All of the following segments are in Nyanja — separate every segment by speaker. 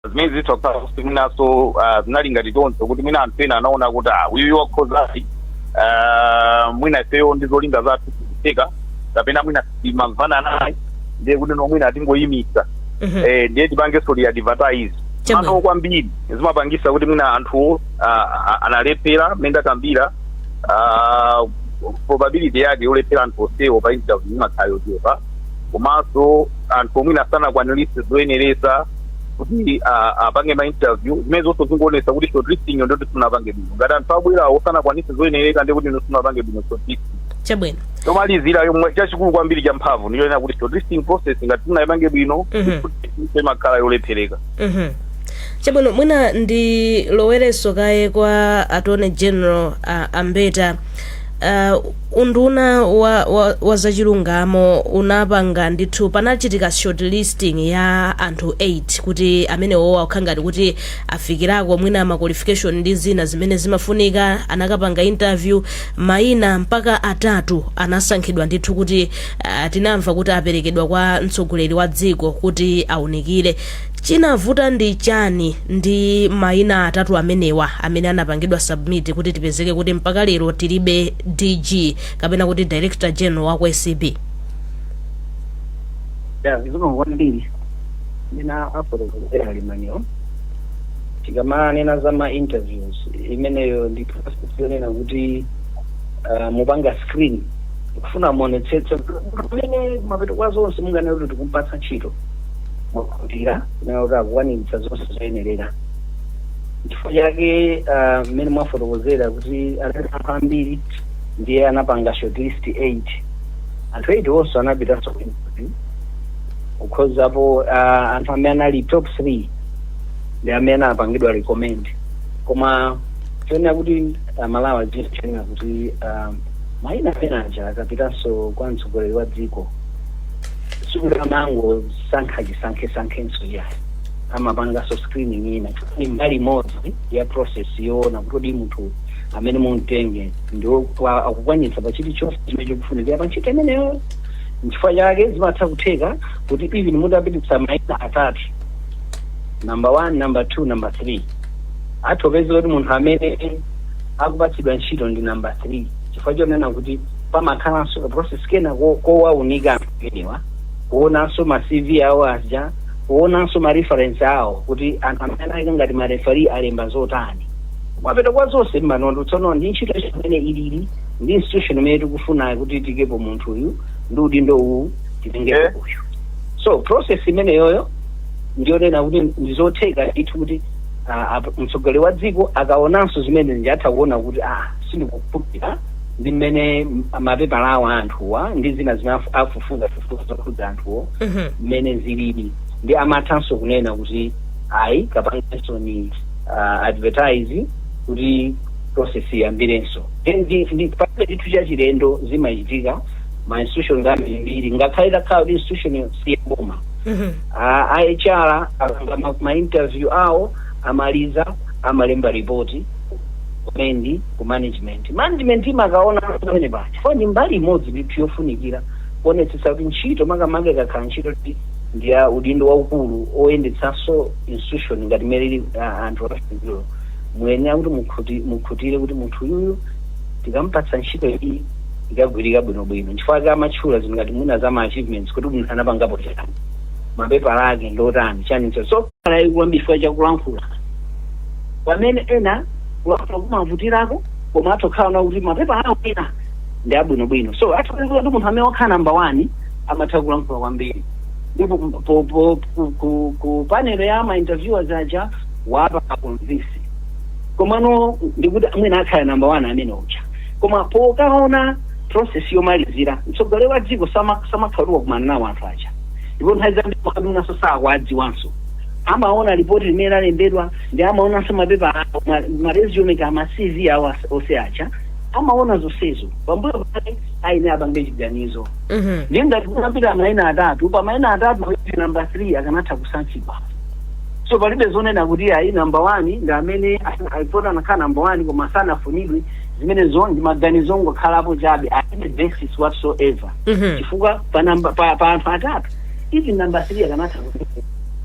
Speaker 1: zimene zitokhala kuti mwinanso ah, zinali ngati choncho kuti mwina anthu ena anaona kuti ah, uyu wakhozayi ah, mwina ifeyo ndi zolinga zathu zikutheka kapena mwina timamvana naye ndiye kuti no mwina tingoyimisa Mhm. eh, ndiye tipangenso re-advertise Chabwino. mano kwambiri zimapangisa kuti mwina anthu ah, ah, analephera mmene ndakambira ah, probability yake yolephera anthu onsewo pa interview imakhala yochepa komanso anthu oti mwina sanakwanilitse zoyenereza kuti ah, apange ma interview zimene zonse zikuonetsa kuti shortlisting yo ndiyoti sunapange bwino ngati anthu abwera osanakwanitse zoyenereka ndi kuti iwe sunapange bwino shortlisting
Speaker 2: chabwino chomalizira yomwe
Speaker 1: chachikulu kwambiri cha mphamvu ndi chonena kuti shortlisting process ngati sunayipange bwino Mhm. imakhala yolephereka
Speaker 2: Mhm. chabwino mwina ndilowerenso kaye kwa attorney general uh, a Mbeta uh, unduna wa, wa, wa zachilungamo unapanga ndithu panachitika short listing ya anthu 8 kuti amenewowa akukhala ngati kuti afikirako mwina ma qualification ndi zina zimene zimafunika anakapanga interview maina mpaka atatu anasankhidwa ndithu kuti Ah, tinamva kuti aperekedwa kwa mtsogoleri wa dziko kuti aunikire chinavuta ndi chani ndi maina atatu amenewa amene anapangidwa submit kuti tipezeke kuti mpaka lero tilibe dg kapena kuti director general wa ku acb
Speaker 3: zikomo kwambiri mmene afotokozera a Lemaniwo tikamanena za ma interviews imeneyo ndi process yonena kuti ah, mupanga screen Kufuna muonetsetse kuti munthu amene kumapeto kwa zonse munganene kuti tikumpatsa ntchito mwakhutitsidwa kunena kuti akukwaniritsa zonse zoyenerera. Chifukwa chake ah, mmene mwafotokozera kuti anali anthu ambiri ndiye anapanga shortlist 8 anthu 8 onse anapitanso ku interview kukhozapo ah, anthu amene anali top 3 ndi amene anapangidwa recommend koma choyenera kuti aMalawi chonena kuti ah, Maina amenewaja akapitanso kwa mtsogoleri wa dziko sikuti amangosankha chisankhesankhenso ayi. Amapanganso screening ina chifukwa ndi mbali imodzi ya process yoona kuti kodi munthu amene mumtenge ndi wa- akukwanitsa pa chilichonse chimene chikufunikira pa ntchito imeneyo. Nchifukwa chake zimatha kutheka kuti even mutapititsa maina atatu number one, number two, number three atha kupeza kuti munthu amene akupatsidwa ntchito ndi namba 3 chifukwa chonena kuti pamakhalanso ka process kena ko- kowaunika anthu amenewa kuonanso ma cv awo aja kuonanso ma reference awo kuti anthu amene anayika ngati ma referee alemba zotani mapeto kwa zonse mmaona tsono ndi ntchito imene ilili ndi institution imene tikufunayo kuti tiikepo munthu uyu ndi udindo uwu titengepo Eh. uyu so process imeneyoyo ndiyonena kuti ndizotheka ndithu kuti ah, ap- mtsogoleri wa dziko akaonanso zimene zija atha kuona kuti ah sindikukhutira ndi mmene m- mapepala awo a anthuwa ndi zina zimene afu- afufuza fufuza zokhudza anthuwo Mhm. mmene zilili ndi amathanso kunena kuti ayi kapangensoni uh, advertise kuti process iyambirenso Then ndi- ndi palibe chinthu chachilendo zimachitika ma institution ambirimbiri ngakhale takhala kuti institution siyaboma a HR akapanga ma, ma interview awo amaliza amalemba report kumendi ku management management imakaona pamenepa chifukwa ndi mbali imodzi ndithu yofunikira kuonetsetsa kuti ntchito makamaka ikakhala ntchito kuti ndi ya udindo waukulu oyendetsanso institution ngati mmene ili ah, anthu apafunikiro muyenera kuti mukhuti- mukhutire kuti munthu uyuyu tikampatsa ntchito iyi ikagwirika bwinobwino nchifukwa chake amatchula zinthu ngati mwina za ma achievements kuti munthu anapangapo chani mapepala ake ndotani chaninso so pali yayikulu kwambiri chifukwa chakulankhula pamene ena kulankhula kumavutirako koma atha kukhala kuti mapepala awo ena ndi abwinobwino so atha kukhala kuti munthu amene wakhala namba one amatha kulankhula kwambiri ndipo po- po- ku- ku- ku panel ya ma interviewers aja wapanga convince komano ndikuti mwina akhala namba one amene uja Koma pokaona process yomalizira, mtsogoleri wa dziko sama samakhala kuti wakumana nawo anthu aja. Ndipo nthawi zambiri makadi mwinanso sakuwadziwanso. Amaona lipoti limene alembedwa ndi amaonanso mapepala awo, ma, ma resume kaya ma CV awo as- onse aja. Amaona zonsezo. Pambuyo pake ayenera apange chiganizo. Mhm. Ndiye ngati kunapita maina atatu, pa maina atatu kuti number 3 akanatha kusankhidwa. So palibe zonena kuti ayi number 1 ndi amene alipoti anakhala number 1 koma sanafunidwe zimenezo ndi maganizo ongokhalapo chabe alibe basis whatsoever Mhm. chifukwa pa namba pa, pa anthu atatu even namba 3 akanatha kuti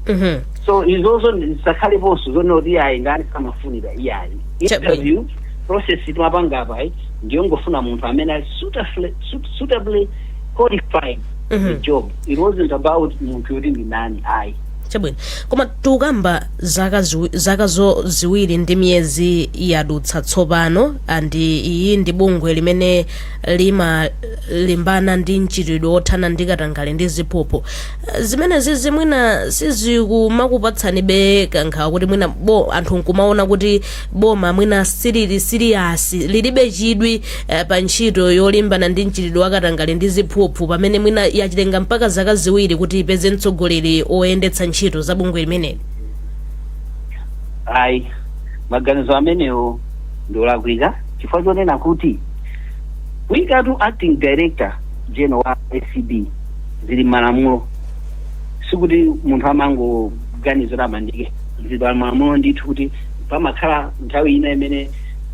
Speaker 3: Mhm. so izozo zisakhaleponso zonena kuti ayi ndani samafunira iyayi Chabwino. interview process timapanga apa ayi ndiyongofuna munthu amene ali suitably- suit- suitably qualified Mhm. the job it wasn't about munthu yoti ndi nani ayi chabwino
Speaker 2: koma tukamba zaka, ziwi- zaka zo ziwiri ndi miyezi yadutsa tsopano andi iyi ndi bungwe limene limalimbana ndi mchitidwe wothana ndi katangale ndi ziphuphu Eh, zimenezizi mwina sizikumakupatsanibe kankhawa kuti mwina bo anthu nkumaona kuti boma mwina silili serious lilibe chidwi eh, pa ntchito yolimbana ndi mchitidwe wakatangale ndi ziphuphu pamene mwina yachitenga mpaka zaka ziwiri kuti ipeze mtsogoleri oyendetsa ntchito za bungwe limeneli
Speaker 3: ayi maganizo amenewo ndi olakwika chifukwa chonena kuti kuikatu acting director general wa acb zili malamulo sikuti munthu amangoganiza kuti amuike zili malamulo ndithu kuti pamakhala nthawi ina imene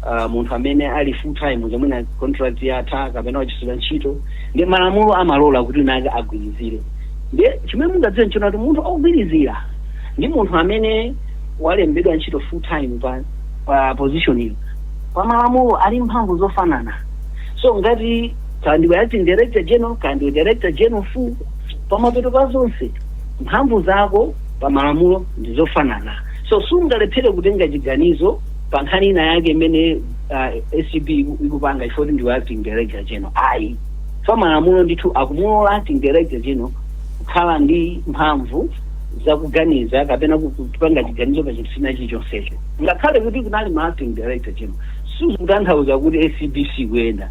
Speaker 3: uh, munthu amene ali full time uja mwina contract yatha kapena wachotsedwa ntchito nde malamulo amalola kuti wina akagwirizire ndiye chimene mungadziwe nchonena kuti munthu ogwirizira ndi munthu amene walembedwa ntchito full time pa, pa position iyo pa malamulo ali mphamvu zofanana so ngati kaya ndiwe acting director general kaya ndiwe director general full pamapeto pa zonse mphamvu zako pa malamulo ndi zofanana So sungalephere kutenga chiganizo pa nkhani ina yake imene uh, ACB iku- ikupanga chifukwa kuti ndiwe acting director general. Ayi. Pa malamulo ndithu akumulola acting director general kukhala ndi mphamvu za kuganiza kapena ku- kupanga chiganizo pa chinthu china chilichonsecho. Ngakhale kuti kunali ma acting director general. Sizikutanthauza kuti ACB sikuyenda.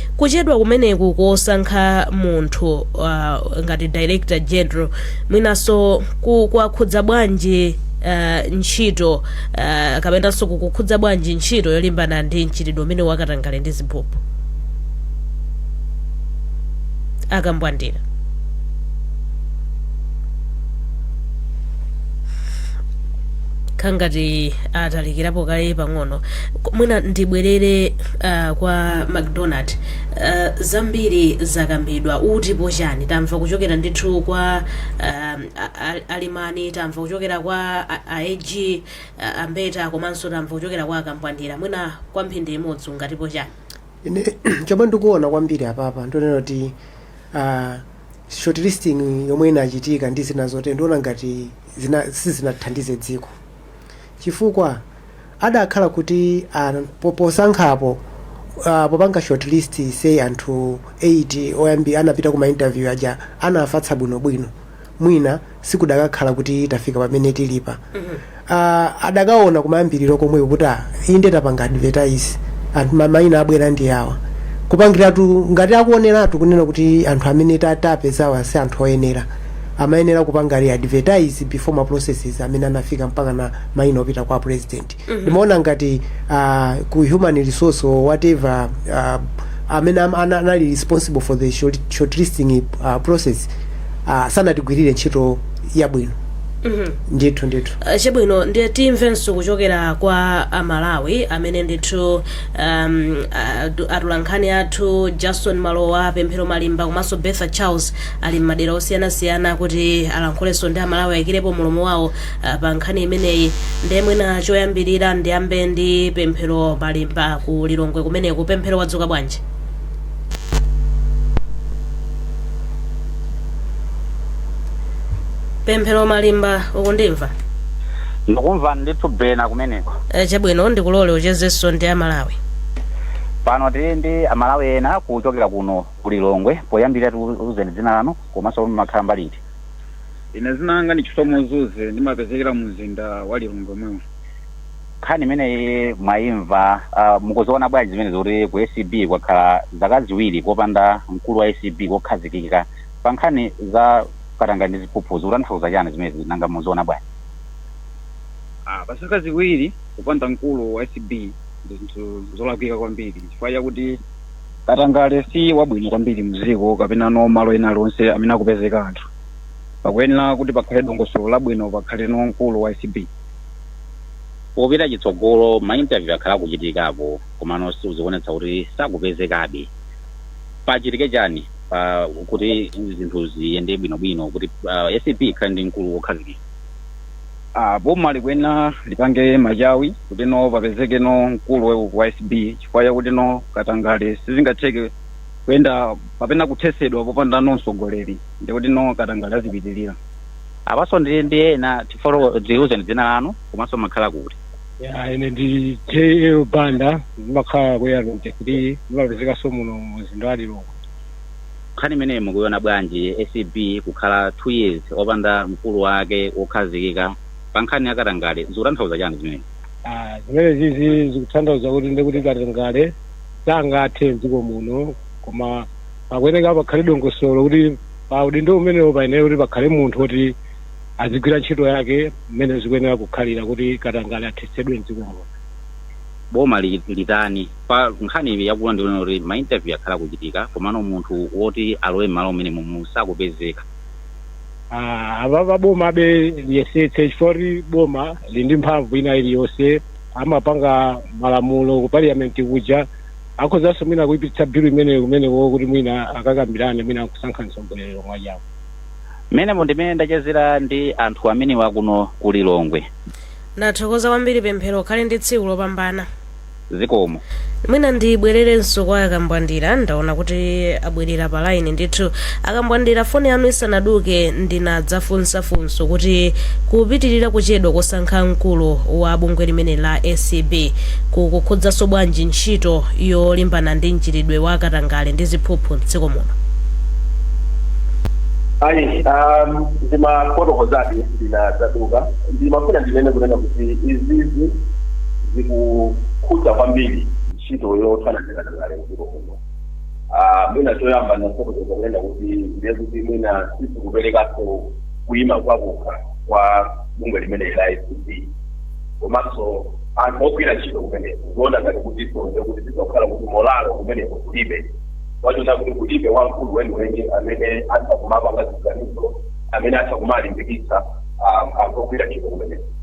Speaker 2: Kuchedwa kumeneku kosankha munthu ngati director general mwinanso kwakhudza bwanji ntchito kapenanso kukukhudza bwanji ntchito yolimbana ndi mchitidwe umenewu wa katangale ndi ziphuphu? A Kambwandira. Akhala ngati atalikirapo kaye pang'ono. Mwina ndibwerere. uh, kwa macdonald uh, zambiri zakambidwa mutipo chani tamva kuchokera ndithu kwa um, a- a- alimani tamva kuchokera kwa a- aag uh, ambeta komanso tamva kuchokera kwa akambwandira mwina kwa mphindi imodzi ungatipo chani
Speaker 4: ine chomwe ndikuona kwambiri apapa nchonena kuti uh, short listing yomwe inachitika ndi zina zote ndiona ngati sizinathandize dziko chifukwa adakhala kuti an posankhapo uh, popanga shortlist say anthu 8 oyambi anapita kuma interview aja nafatsa bwinobwino mwina sikudakakhala kuti tafika pamene tilipa uh, adakaona kumayambiriro komweko kuti ah, inde tapanga advertise anthu ma- maina abwera ndi awa kupangiratu ngati akuoneratu kunena kuti anthu amene ta- tapezawa si anthu oyenera amayenera kupanga re advertise before ma processes amene anafika mpakana maina opita kwa president ndimaona ngati ah, ku human resource or whatever ah, amene am- ana- anali responsible for the short, shortlisting ah, process ah, sanatigwirire ntchito yabwino ndithu ndithu Uh,
Speaker 2: chabwino ndiye timvenso kuchokera kwa amalawi amene ndithu um, adu- atulankhani athu jason malowa pemphero malimba komanso betha charles ali m'madera osiyanasiyana kuti alankhulenso ndi amalawi ayikirepo mlomo wawo Ah, pa nkhani imeneyi nde mwina choyambirira ndiyambe ndi pemphero malimba ku lilongwe kumeneko pemphero wadzuka bwanji pemphero malimba
Speaker 5: ukundimva ndikumva ndithu bena kumeneko Eh, chabwino
Speaker 2: ndikulole uchezenso ndi amalawi pano
Speaker 5: tili ndi amalawi ena kuchokera kuno ku lilongwe poyambirira tiuzeni dzina lanu komanso kuti mumakhala mbali iti
Speaker 6: ine dzina langa ndi chisomo zuze ndimapezekera mu mzinda wa lilongwe momwemu
Speaker 5: nkhani imeneyi mwayimva uh, mukuziona bwanji zimenezi kuti ku acb kwakhala zaka ziwiri popanda mkulu wa acb wokhazikika pa nkhani za katangale ndi ziphuphu zikutanthauza chani zimenezi nanga mukuziona
Speaker 6: bwanji Ah, pa zaka ziwiri kupanda mkulu wa acb ndi zinthu zolakwika kwambiri chifukwa chakuti Katangale si wabwino kwambiri mdziko kapenano malo ena alionse amene akupezeka anthu. Pakuyenera kuti pakhale dongosolo labwino pakhaleno mkulu wa acb.
Speaker 5: Popita chitsogolo ma interview akhala akuchitikapo komano still zikuonetsa kuti sakupezekabe. Pachitike chani kuti zinthu ziyende bwino bwino kuti acb ikhale ndi mkulu wokhazikika?
Speaker 6: Boma likuyenera lipange machawi kutino papezekeno mkulu wa acb. chifukwa chakuti no katangale sizingatheke kuyenda kapena kuthetsedwa popanda no mtsogoleri ndikuti no katangale azipitirira apanso
Speaker 5: ndili ndi ena tifolo tiuzeni dzina lanu komanso mumakhala kuti ya ine ndi
Speaker 7: jl banda ndimakhala ku yarente kuti ndimapezekanso muno mumzinda wa lilongwe
Speaker 5: nkhani imeneyi mukuiona bwanji acb kukhala two years opanda mkulu wake wokhazikika pa nkhani ya katangale zikutanthauza chani zimenezi Ah, zimenezizi
Speaker 7: zikutanthauza kuti ndi kuti katangale sangathe mdziko muno koma pakuyeneka pakhale dongosolo kuti pa udindo umenewo payenera kuti pakhale munthu woti azigwira ntchito yake mmene zikuyenera kukhalira kuti katangale athetsedwe mdziko muno
Speaker 5: boma li- litani pa nkhani yakula ndikuona kuti ma interview akhala kuchitika komano munthu woti alowe mmalo mmenemumu sakupezeka
Speaker 7: Ah, apapa bomabe liyesetse chifukwa kuti boma lili ndi mphamvu ina iliyonse amapanga malamulo ku parliament kuja akhozanso mwina kuipititsa bilu imeneyo kumeneko kuti mwina akakambirane mwina kusankha mtsogoleri omwe ajawo mmene
Speaker 5: mu ndimene ndachezera ndi anthu amenewa kuno ku lilongwe ndathokoza
Speaker 2: kwambiri pemphero ukhale ndi tsiku lopambana zikomo
Speaker 5: mwina
Speaker 2: ndibwererenso kwa akambwandira ndaona kuti abwerera pa line ndithu akambwandira foni yanu isanaduke ndinadzafunsa funso kuti kupitirira kuchedwa kosankha mkulu wa bungwe limene la acb kukukhudzanso bwanji ntchito yolimbana ndi mchitidwe wa katangale ndi ziphuphu mdziko muno ayi um,
Speaker 8: ndimafotokozadi ndinadzaduka ndimafuna ndinene kunena kuti izizi zikukhudza kwambiri ntchito yothana ndi katangale mdziko muno. Ah, mwina choyamba ndinafotokoza kunena kuti ndiye kuti mwina sizikuperekanso kuima pakokha kwa bungwe limene la acb komanso anthu ogwira ntchito kumeneko kuona ngati kuti sonde kuti zizakhala kuti molalo kumeneko kulibe wachona kuti kulibe wamkulu weniweni amene atha kumapanga ziganizo amene atha kumalimbikitsa ah, anthu ogwira ntchito kumeneko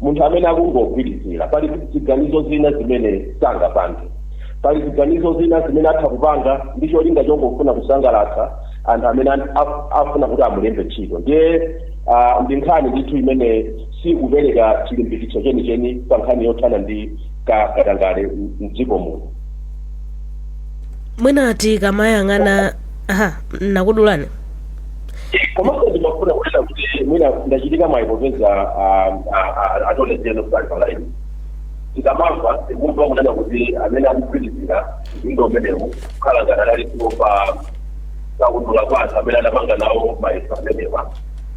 Speaker 8: Munthu amene akungogwirizira, pali ziganizo zina zimene sangapange. Pali ziganizo zina zimene atha kupanga ndi cholinga chongofuna kusangalatsa anthu amene an- af- afuna kuti amulembe ntchito. Ndiye ah, ndi nkhani ndithu imene sikupereka chilimbikitso chenicheni pa nkhani yothana ndi ka- katangale m- m'dziko muno. mwina
Speaker 2: tikamayang'ana aha nakudulani
Speaker 8: komanso ndimafuna kunena kuti mwina ndachita mwayi popeza attorney general ali pa laini tikamamva tikumva kunena kuti amene akugwirizira udindo umenewu akukhala ngati adalipo pa kaundula wa anthu amene anapanga nawo mayeso amenewa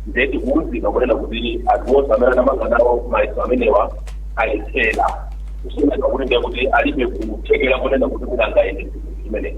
Speaker 8: nde tikuwuzidwa kunena kuti anthu onse amene anapanga nawo mayeso amenewa alephera kusonyeza kuti ndiye kuti alibe kuthekera kunena kuti kuti angayende chinthu chimenechi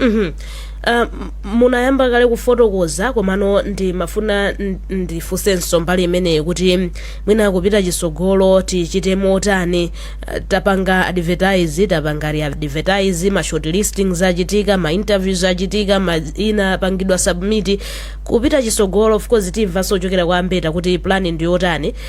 Speaker 8: Mhm.
Speaker 2: Uh, munayamba kale kufotokoza komano ndimafuna n- ndifunsenso mbali imeneyi kuti mwina kupita chisogolo tichite motani uh, tapanga advertise tapanga readvertise ma short listings achitika ma interviews achitika maina anapangidwa submit kupita chisogolo of course timvanso kuchokera kwa ambeta kuti plan ndiyotani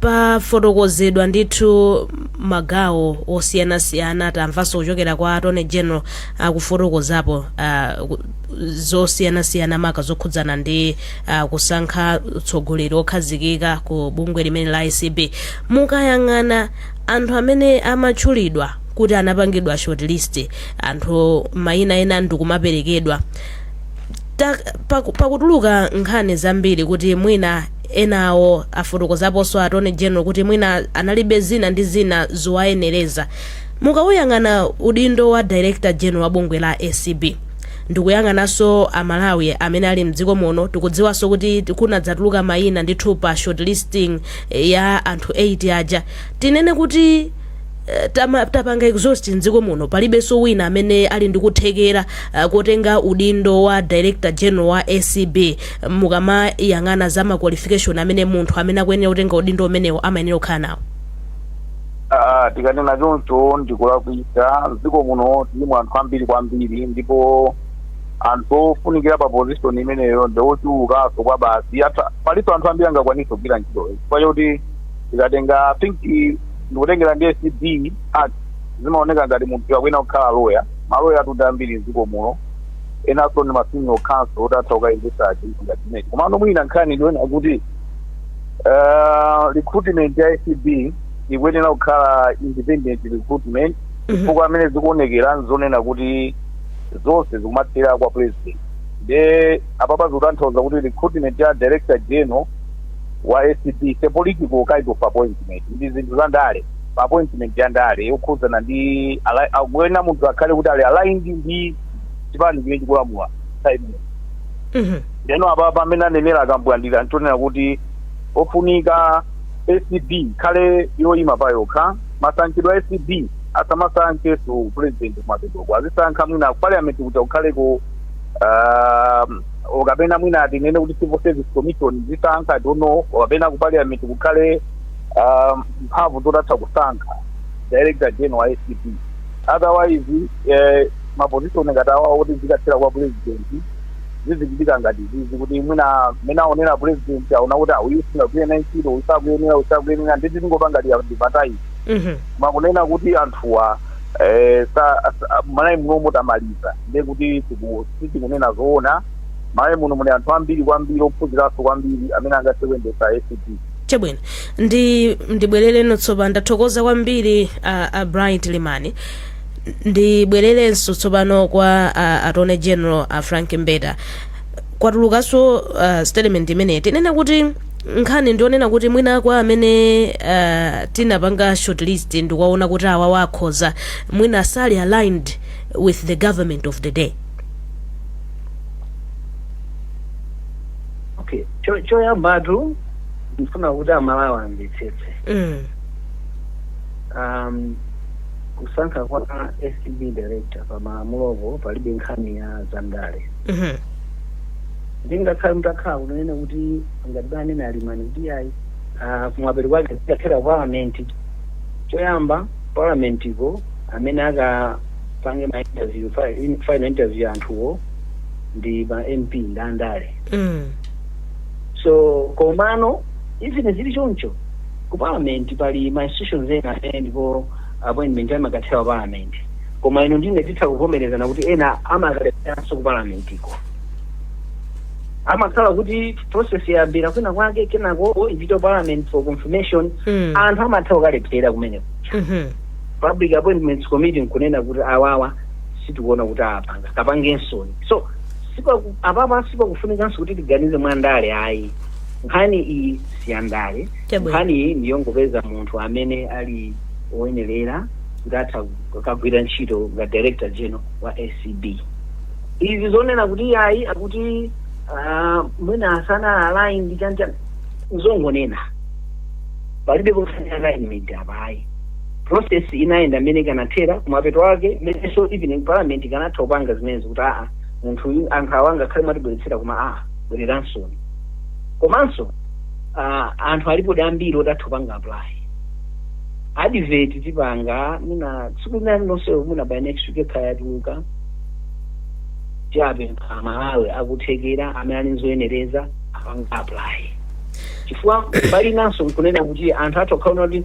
Speaker 2: pafotokozedwa ndithu magawo osiyanasiyana tamvanso kuchokera kwa attorney general akufotokozapo uh, ku- zosiyanasiyana maka zokhudzana ndi uh, kusankha utsogoleri okhazikika ku bungwe limene la acb mukayang'ana anthu amene amatchulidwa kuti anapangidwa shortlist anthu mayina ena ndikumaperekedwa Ta- paku- pakutuluka nkhani zambiri kuti mwina Enawo afotokozaposo attorney general kuti mwina analibe zina ndi zina zowayenereza. Mukauyang'ana udindo wa director general wa bungwe la acb ndikuyang'anaso a Malawi amene ali mdziko muno tikudziwaso kuti kunadzatuluka maina ndithu pa short listing ya anthu 8 aja tinene kuti tapanga exhaust mdziko muno palibeso wina amene ali ndikuthekera kotenga udindo wa director general wa acb. mukamayang'ana za ma qualification amene munthu amene akuyenera kutenga udindo umenewo amayenera kukhala nawo Ah, tikanena
Speaker 1: choncho ndikulakwitsa mdziko muno tilimo anthu ambiri kwambiri ndipo anthu ofunikira pa position imeneyo ndi ochulukanso kwabasi Atha- palinso anthu ambiri angakwanise kugwira ntchitoyo chifukwa choti tikatenga I think i- ndikutengera ndi acb act zimaoneka ngati munthu akuyenera kukhala loya maloya atunde ambiri mdziko muno enanso ndi ma senior counsel otha kukayendesa chinthu ngati chimenechi komano mwina nkhani ndiona kuti uh, recruitment ya acb ikuyenera kukhala independent recruitment chifukwa amene zikuonekera nzonena kuti zonse zikumathera kwa president nde apapa zikutanthauza kuti recruitment ya director general wa acb is a political kind of appointment ndi zinthu za ndale pa appointment ya ndale yokhudzana ndi ali- akuyenera munthu akhale kuti ali aligned ndi chipani chimene chikulamula nthawi imeneyi Mhm. ndeno apa pamene anenera a Kambwandira nzonena kuti ofunika acb ikhale yoyima pa yokha masankhidwe a acb asamasankheso president kumapeto azisankha mwina ku parliament kuti akukhaleko um, okapena mwina atinene kuti civil service commission izisankha I don't know okapena ku parliament kukhale um, mphamvu zotatha kusankha director general wa acb otherwise ma position ngati awa oti zikathera kwa president zizichitika ngati zizi kuti mwina mmene aonera president aona kuti uyu singagwire ntchito uyu sakuyenera uyu sakuyenera ndiye tingopanganso readvertise Mhm. koma kunena kuti anthuwa eh, sa- sa- malawi muno mutamaliza ndiye kuti tiku- sitikunena zoona malawi muno muli anthu ambiri kwambiri ophunziranso kwambiri amene angathe kuyendetsa acb
Speaker 2: chabwino ndi ndibwerereno tsopano ndathokoza kwambiri a, a bright limani ndibwererenso tsopano kwa a, attorney general a frank mbeta kwatulukanso uh, statement imeneyi tinene kuti nkhani ndionena kuti mwina kwa amene uh, tinapanga shortlist ndikuwaona kuti awawa akhoza mwina sali aligned with the government of the day
Speaker 3: okay Cho- choyambatu ndifuna kuti amalawi amvetsetse Mm. um, kusankha kwa acb director pa malamulopo palibe nkhani ya zandale Mhm. ndingakhale mutakhala kunena kuti ngati anene a limani kuti ayi ah, kumapeto kwake zikathera palamenti choyamba palamentiko amene akapange ma interview fi- in- final interview anthuwo ndi ma mp ndi andale Mm. so komano even zili choncho ku parliament pali ma institutions ena amene ndipo appointment amakathera ku parliament koma inu ndi ine titha kuvomerezana kuti ena amakalepheranso ku parliament ko amakhala kuti process yayambira kwina kwake kenako ipita ku parliament for confirmation Mm. anthu amatha kukalephera kumeneko Mhm. public appointments committee nkunena kuti awawa sitikuona kuti apanga kapangensoni so sipaku- apapa sipakufunikanso kuti tiganize mwa ndale ayi nkhani iyi siyandale Chabwino. nkhani iyi ndiyongopeza munthu amene ali woyenerera kuti atha kukagwira ntchito nga director general wa acb izi zonena kuti ayi akuti ah, mwina asana align ndi chanchani zongonena palibe kufuna alignment apa ayi process inayenda mmene ikanathera kumapeto ake mmenenso even parliament ikanatha kupanga zimenezo kuti aa munthuyu anthu awa ngakhale mwatibweretsera koma aa bwereransoni komanso ah, anthu alipodi ambiri oti atha kupanga apply advert tipanga mwina tsiku lina lililonse mwina by next week ikhala yatuluka tiwapempha amalawi akuthekera amene ali nzoyenereza apange apply chifukwa mbali inanso nkunena kuti anthu atha kukaona kuti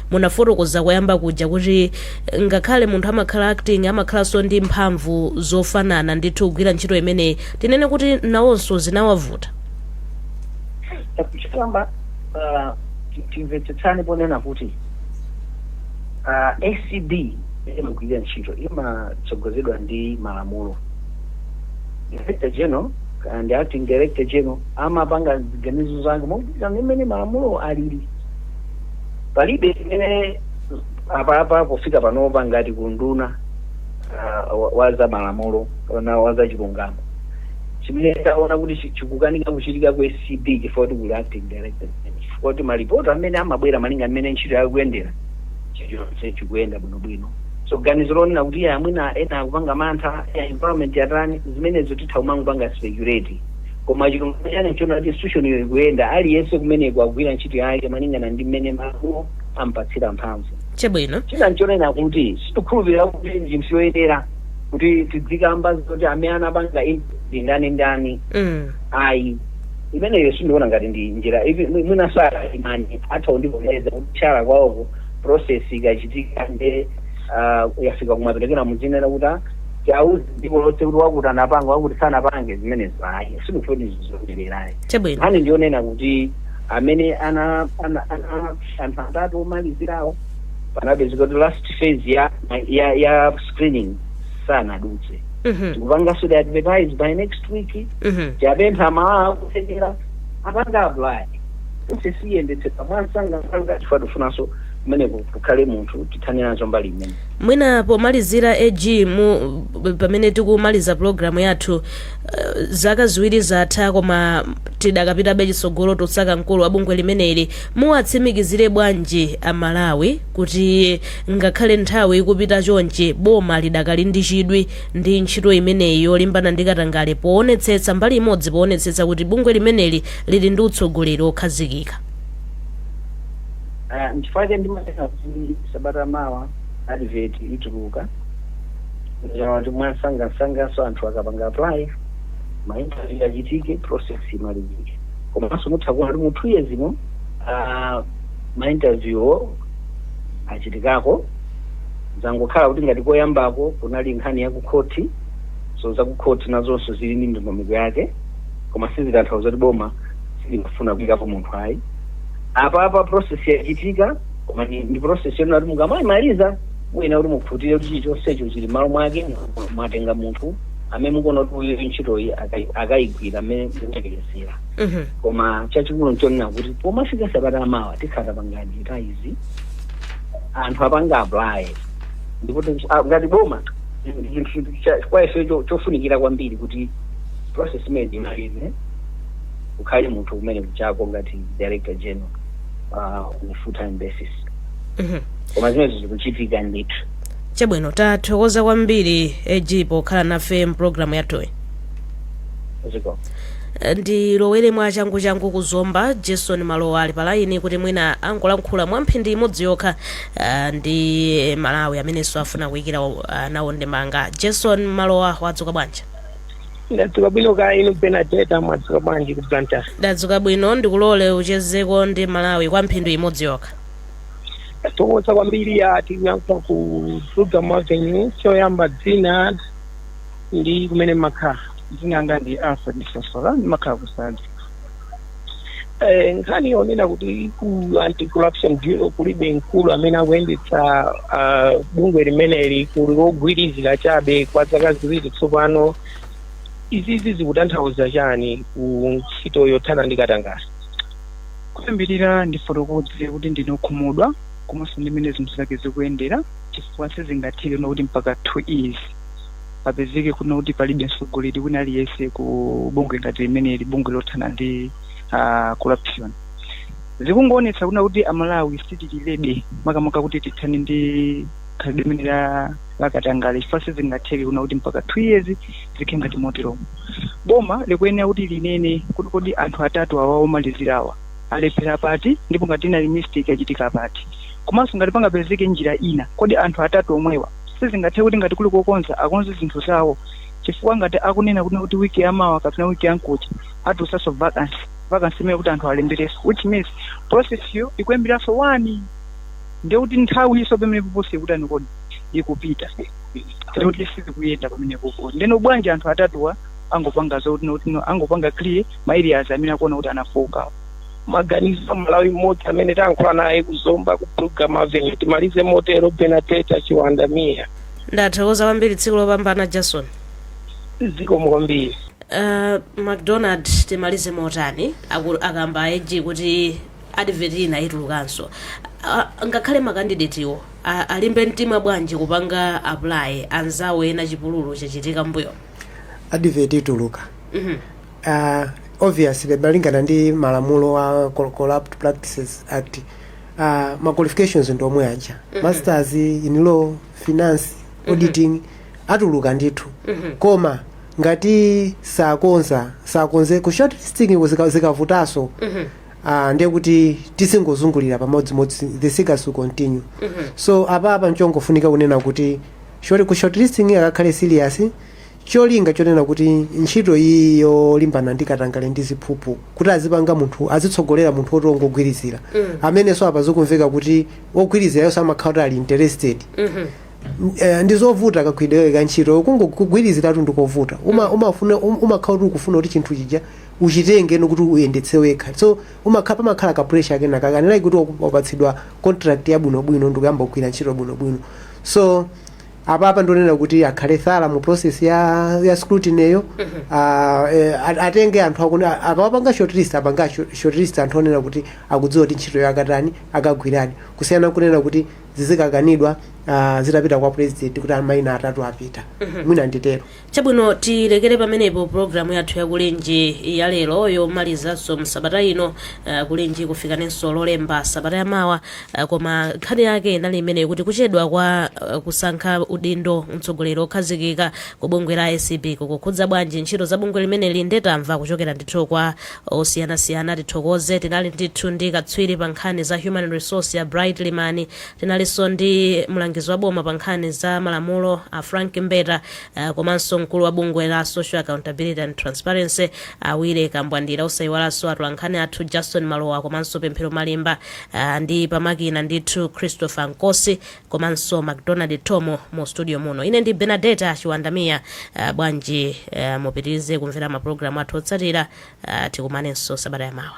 Speaker 2: Munafotokoza koyamba kuja kuti ngakhale munthu amakhala acting amakhalanso ndi mphamvu zofanana ndithu kugwira ntchito imeneyi. Tinene kuti nawonso zinawavuta?
Speaker 3: Choyamba timvetsetsane ponena kuti acb mmene imagwirira ntchito imatsogozedwa ndi malamulo. Director General ndi Acting Director General amapanga ziganizo zake mogwirizana ndi mmene malamulowo alili. palibe chimene apapa pofika panopa ngati kunduna uh, wa- wa za malamulo kapena wa za chilungamo chimene taona kuti chi- chikukanika kuchitika ku acb chifukwa kuti kuli acting director chifukwa kuti malipoti amene amabwera malinga mmene ntchito yakuyendera chilichonse chikuyenda bwinobwino so ganizo lonena kuti iye mwina ena akupanga mantha ya environment yatani zimenezo titha kumangopanga speculate Koma chilungamo chake nchoti institutionyo ikuyenda, aliyense kumeneko akugwira ntchito yake malingana ndi mmene malamulo amupatsira mphamvu. Chabwino. China
Speaker 2: nchonena kuti
Speaker 3: sitikukhulupirira kuti ndi njira yoyenera kuti tidzikamba zoti amene anapanga intervene ndi ndani ndani. mm. Ayi, imeneyo sindiona ngati ndi njira iyi mwi- mwinanso akaimani atha kundivomereza kuti kutchala kwawoko process ikachitika nde ah, yafika kumapeto kenako mudzinena kuti ah, tiuze dziko lonse kuti wakuti anapanga wakuti sanapange zimenezo ayi sikuti ndi zoyenera ayi Chabwino. nkhani ndiyonena kuti amene ana ana ana anthu atatu omalizirawo panapezeka kuti last phase ya ya ya screening sanadutse Mhm. tikupanganso advertise by next week Mhm. tikupempha amalawi akuthekera apanga apply process iyendetsedwe mwansangansanga chifukwa tifunanso kumeneko kukhale munthu tithane nazo mbali imene mwina
Speaker 2: pomalizira ag mu pamene tikumaliza pulogalamu yathu eh, zaka ziwiri zatha koma tidakapitabe chitsogolo kusaka mkulu wa bungwe limeneli muwatsimikizire bwanji amalawi kuti ngakhale nthawi ikupita chonchi boma lidakali ndi chidwi ndi ntchito imeneyi yolimbana ndi katangale poonetsetsa mbali imodzi poonetsetsa kuti bungwe limeneli lili ndi utsogoleri wokhazikika
Speaker 3: Ah, nchifukwa chake ndimanena kuti sabata mawa advert ituluka kuti mwansangansanganso anthu akapanga apply ma interview achitike process imalizike komanso mutha kuona kuti mu two years ino ah, ma interview achitikako zangokhala kuti ngati koyambako kunali nkhani ya kukhoti so za kukhoti nazonso zili ndi ndondomeko yake koma sizitanthauza kuti boma silikufuna kuyikapo munthu ayi apapa process yachitika koma ndi ndi process yonena kuti mukamaimaliza muyenera kuti mukhutire kuti chilichonsecho chili malo mwake mu- mwatenga munthu amene mukuona kuti uyu ntchitoyi akai- akayigwira amene mukuyerekezera Mhm. koma chachikulu nchonena kuti pomafika sabata amawa tikhala titapanga advertise anthu apanga apply ndipo tiku- ah, ngati boma chinthu cha- kwa ife cho- chofunikira kwambiri kuti process imene imalize ukhale munthu kumene kuchako ngati director general uh, on a full time basis Mhm. koma zimenezo zikuchitika ndithu chabwino
Speaker 2: tathokoza kwambiri ag pokhala nafe mpulogalamu yathuyi zikomo ndilowere mwa changuchangu ku zomba jason malowa ali palayini kuti mwina angolankhula mwa mphindi imodzi yokha ah, ndi amalawi amenenso afuna kuyikira ah, nawo ndemanga jason malowa wadzuka bwanji
Speaker 9: ndadzuka bwino kaya inu benadeta mwadzuka bwanji ku blantyre ndadzuka
Speaker 2: bwino ndikulole uchezeko ndi amalawi kwa mphindi imodzi yokha tathokoza
Speaker 9: kwambiri ya tikuyankha ku program avenue choyamba dzina ndi kumene makhala dzina langa ndi alfred sosola ndimakhala ku sanje Eh, nkhani yonena kuti ku anti corruption bureau kulibe mkulu amene akuyendetsa ah, bungwe limeneli kuli wogwirizira chabe kwa zaka ziwiri tsopano izizi zikutanthauza chani ku ntchito yothana ndi katangale
Speaker 10: kuyambirira ndifotokoze kuti ndine okhumudwa komanso ndi mmene zinthu zake zikuyendera chifukwa sizingatheke kuti mpaka two years papezeke kunena kuti palibe mtsogoleri wina aliyense ku bungwe ngati limeneli bungwe lothana ndi ah, corruption zikungoonetsa kunena kuti amalawi sitili ready makamaka kuti tithane ndi khalidwe limeneli la katangale chifukwa sizingatheke kunena kuti mpaka two years zikhale ngati moteromo boma likuyenera kuti linene kuti kodi anthu atatu awa omalizirawa alephera pati ndipo ngati inali mistake yachitika pati komanso ngati pangapezeke njira ina kodi anthu atatu omwewa sizingatheke kuti ngati kuli kokonza akonze zinthu zawo chifukwa ngati akunena kuti kuti wiki ya mawa kapena wiki ya mkuja atulutsanso vacancy vacancy imene ikuti anthu alemberenso which means process yo ikuyambiranso wani ndiye kuti nthawinso pamenepopo si ikutani kodi ikupita ndiye kuti sizikuyenda pamenepopo ndeno bwanji anthu atatuwa angopanga zoti noti no- angopanga clear ma areas amene akuona kuti anafokawo maganizo
Speaker 9: a mmalawi mmodzi amene tayankhula naye ku zomba ku program avenue timalize motero benadeta chiwanda miya ndathokoza
Speaker 2: kwambiri tsiku lopambana jason zikomo
Speaker 9: kwambiri uh,
Speaker 2: mcdonald timalize motani Aku- akamba ag kuti advert ina itulukanso uh, ngakhale makandidetiwo a- alimbe mtima bwanji kupanga apply anzawo ena chipululu chachitika mbuyo advert
Speaker 4: ituluka mm -hmm. uh, obviously malingana ndi malamulo a Cor- corrupt practices act uh, ma qualifications ndi omwe aja masters in law finance auditing atuluka ndithu koma ngati sakonza sakonze ku short listing ku zika- zikavutaso uh, ndiye kuti tizingozungulira pamodzimodzi the circus will continue so apapa nchongofunika kunena kuti short ku short listing akakhale serious cholinga chonena kuti ntchito iyi yolimbana ndi katangale ndi ziphuphu kuti azipanga munthu azitsogolera munthu woti ongogwirizira amene so apa zikumveka kuti ogwirizirayonso amakhala kuti ali interested Eh, ndi zovuta kagwiridwe ka ntchito kungo- kugwiriziratu ndikovuta Uma- umafuna um- umakhala kuti ukufuna kuti chinthu chija uchitenge ndi kuti uyendetse wekha so umakhala pamakhala ka pressure kena kakunena kuti wapatsidwa contract yabwinobwino ndikuyamba kugwira ntchito bwinobwino so apapa ndonena kuti akhale thorough mu process ya, ya scrutiny yo Ah, eh, at- atenge anthu akuni akawapanga shortlist apanga short- shortlist anthu onena kuti akudziwa kuti ntchito yo akatani akagwiradi kusiyana kunena kuti zizikakanidwa ah, zitapita kwa president kuti amaina atatu apita mwina nditero chabwino
Speaker 2: tilekere pamenepo pulogalamu yathu ya kulinji yalero yomalizanso msabata ino uh, kulinji kufikaninso lolemba sabata yamawa uh, koma nkhani yake inali imeneyo kuti kuchedwa kwa uh, kusankha udindo mtsogoleri okhazikika ku bungwe la acb kukukhudza bwanji ntchito za bungwe limeneli nde tamva kuchokera ndithu kwa osiyanasiyana tithokoze tinali ndithu ndi katswiri pa nkhani za human resource a bright limani tinalinso ndi mlangizi wa boma pa nkhani za malamulo a frank mbeta Uh, komanso mkulu wa bungwe la Social Accountability and Transparency a Willy Kambwandira osayiwalanso atolankhani athu Justin Malowa komanso Pemphero Malimba uh, ndi pamakina ndithu Christopher Nkosi komanso McDonald Tomo mu studio muno ine ndi Benadeta Chiwanda Mia uh, bwanji uh, mupitirize kumvera mapulogalamu athu otsatira uh, tikumanenso sabata yamawa